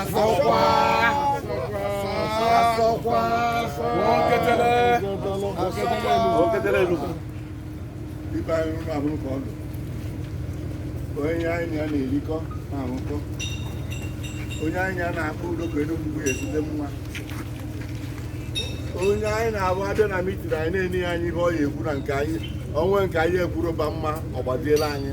asọkwa asọkwa oketele oketele enugu ibe anyị rụrụ abụrụ ka ọ dị onye anyị na ya na-erikọ na-arụkọ onye anyị na ya na-akpọ udo ka enugwu bụ ezigbo mma onye anyị na-abụ a bịa na mitin anyị na-ene ya anya ihe ọ ya ekwu na nke anyị onwe nke anyị ekwuru ba mma ọ gbaziela anyị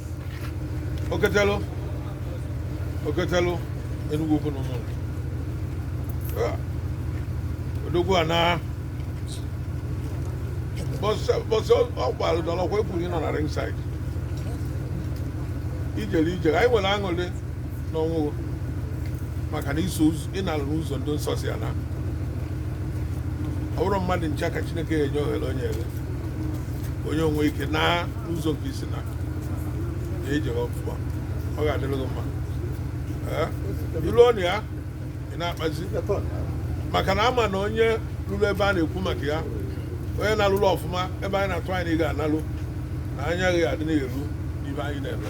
Oketelu Oketelu Enugwu Ukwu na Ụmụnri Ah, odogwu ana bọsị bọsị ọ gbara dọrọ kwa ekwuru ịnọ na ringside ijele ijele anyị nwere aṅụrị n'ọnwụ gị maka na i so ụzọ ị nalụ n'ụzọ ndị nsọ si ana ọ bụrọ mmadụ ncha ka chineke na-enye ohere onye ele onye o nwee ike na ụzọ nke i si na ejere ọfụma ọ ga-adịrị gị mma Ee, ilu ọnụ ya ị na-akpazi maka na a ma na onye lulu ebe a na-ekwu maka ya onye nalulu ọfụma ebe anyị na-atụ anya na ị ga-analu na anya gị ga-adị na-eru n'ife anyị na-eme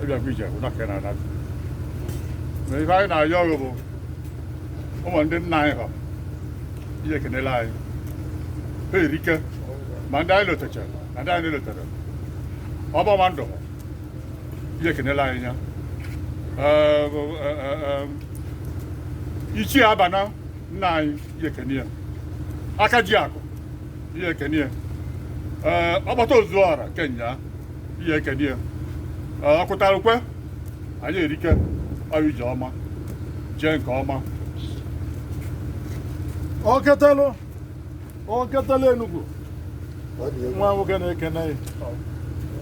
ị bịakwa ije nwe ụna ka na anata na ife anyị na-ayọ ọrụ bụ ụmụ ndị nna anyị ha i je kenelụ anyị ha erike ma ndị anyị lotecha ma ndị anyị lotere ọbọma ndụ i je kenelụ anyị ya ichie abana nna anyị i je kene ya aka ji akụ i je kene ya ọkpata ozu ọra kene ya i je kene ya ọkụtara ukwe anyị erike ọrụ ije ọma jee nke ọma oketalụ oketalụ enugwu nwa nwoke na-ekene ya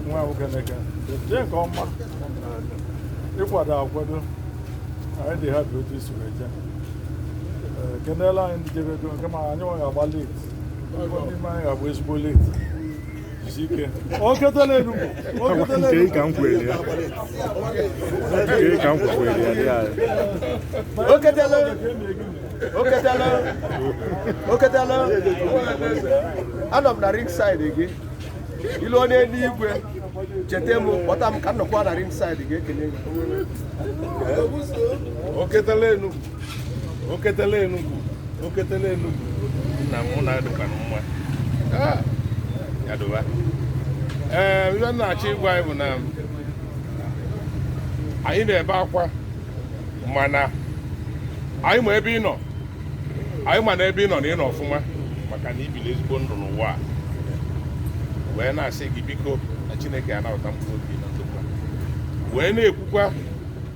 nwa nwoke na-ekene jee nke ọma ị kwado akwado anyị dị happy otu i si wee jee Ee, kenelụ anyị ndị jebego nke ma anyị nwa ga-agba late n'ime anyị ga-agba ezigbo late anọ m na ring side gị i lue n'enu igwe cheta m kpọta m ka m nọkwa na ring side gị ekele gị oketele enugwu oketele enugwu nna m nọdụkwanụ mma Ah, ya dịba ee ihe m na-achọ ịgwa anyị bụ na anyị na-ebe akwa mana anyị ma ebe ị nọ anyị ma na ebe ị nọ na ị nọ ọfụma maka na i bili ezigbo ndụ n'ụwa a wee na-asị gị biko na chineke anabata mkpụrụ obi na ndokwa wee na-ekwukwa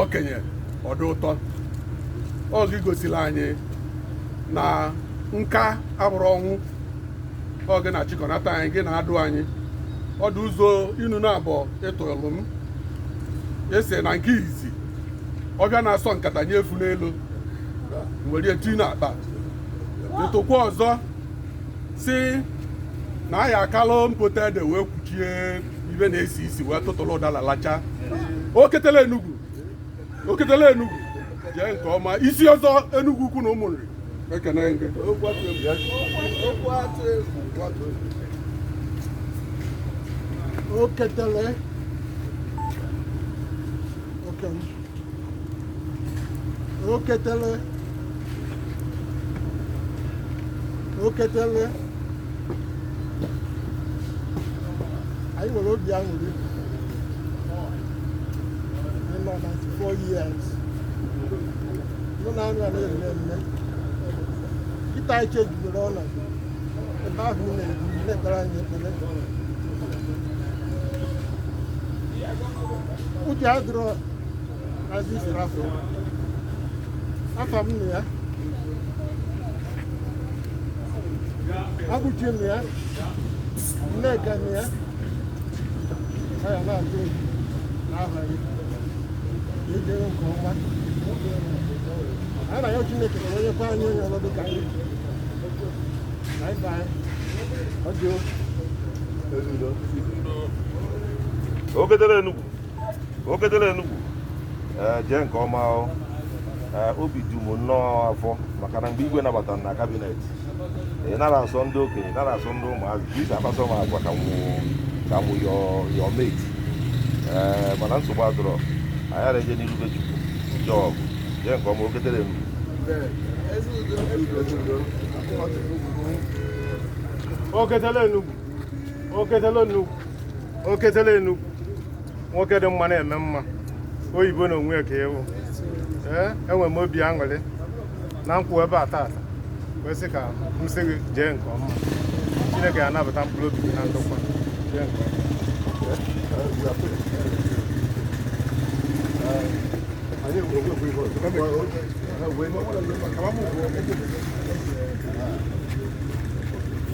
okenye ọdụ ụtọ ọ gị gosiri anyị na nka abụrọ ọnwụ ọ gị na-achịkọnata anyị gị na-adụ anyị ọdụ ụzọ inu naabọ ị tụlụ m esi na nke izizi ọbịa na-asọ nkata nye efu n'elu were eti n'akpa ị tụkwa ọzọ sị na anyị akalụ mpụta ede wee kwuchie ibe na-esi isi wee tụtụrụ ụdala lacha oketele enugwu oketele enugwu jee nke ọma isi ọzọ enugwu ukwu na ụmụnri ekene gị oketele oke oketele oketele anyị nwere obi aṅụrị ị nọ 94 years nọ na anụ a na-eme mme kịta anyị chejidere ọnọdụ ebe ahụ ị na-ebi na-ekpere anyị ekpere ụjọ adịrọ azụ isoro afọ afam nọ ya abụchi nọ ya nneka nọ ya ọ ya na-atụ egwu n'aha gị jee nke ọma a na-ayọ chineke na o nyekwa anyị onye ọrụ dịka anyị anyị baa ọjọọ oketele enugwu oketele enugwu ee jee nke ọma o. Ee, obi dị m nnọọ ụfụ maka na mgbe igwe nabatara m na kabinet ị nara asọ ndị okenye ị nara asọ ndị ụmụazị ka ị si akpasọ m agwa ka mụ ka mụ your your mate ee mana nsogbu adịrọ anyị ara eje n'iru be chukwu jee ọgụ jee nke ọma oketele enugwu Oketele Enugwu. oketele enugwu oketele enugwu nwoke dị mma na-eme mma oyibo na onwe ya ka ị wụ ee enwere m obi aṅụrị na m kwụ ebe a taata wee sị ka m sị gị jee nke ọma chineke ya anabata mkpụrụ obi gị na ndokwa jee nke ọma Thank you.